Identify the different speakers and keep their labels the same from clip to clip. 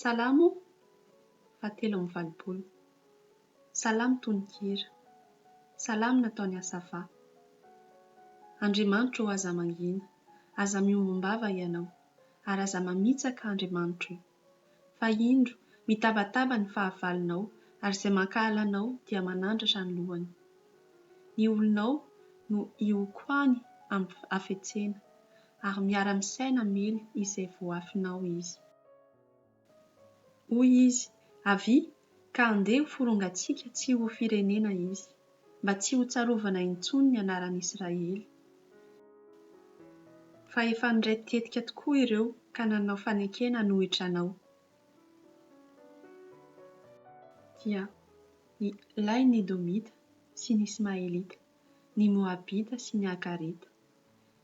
Speaker 1: Salamo fahatelo amby valopolo. Salamo tononkira. Salamo nataon'i Asafa. Andriamanitro ô aza mangina, aza miombom-bava Ianao, ary aza mamitsaka Andriamanitro ô. Fa indro, mitabataba ny fahavalonao, ary izay mankahala Anao dia manandratra ny lohany. Ny olonao no hihokoany amin'ny hafetsena, ary miara-misaina mily izay voafinao izy. Hoy izy, Avia, ka handeha ho forongantsika tsy ho firenena izy, mba tsy hotsarovana intsony ny anaran'Israely. Fa efa niray tetika tokoa ireo ka nanao fanekena hanohitra anao. Dia ny lahy ny Edomita sy ny Ismaelita, ny Moabita sy ny Agarita,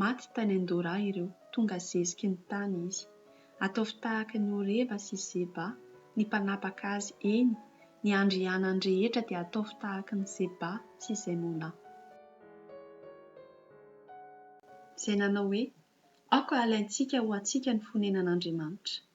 Speaker 1: Maty tany Andorra ireo, tonga zeziky ny tany izy. Ataovy tahaka an'i Oreba sy Zeba, ny mpanapaka azy, eny, ny andrianany rehetra dia ataovy tahaka an'i Zeba sy Zemona. Izay nanao hoe, Aoka halaintsika ho antsika ny fonenan'Andriamanitra.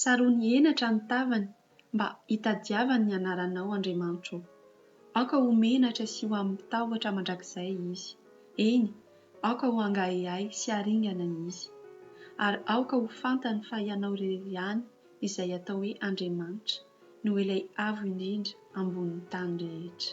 Speaker 1: Saroany henatra ny tavany mba hitadiavany ny anaranao Andriamanitro ô. Aoka ho menatra sy ho amin'ny tahotra mandrakizay izy. Eny, aoka ho angahehay sy haringana izy. Ary aoka ho fantany fa Ianao irery ihany izay atao hoe Andriamanitra no Ilay Avo Indrindra ambonin'ny tany rehetra.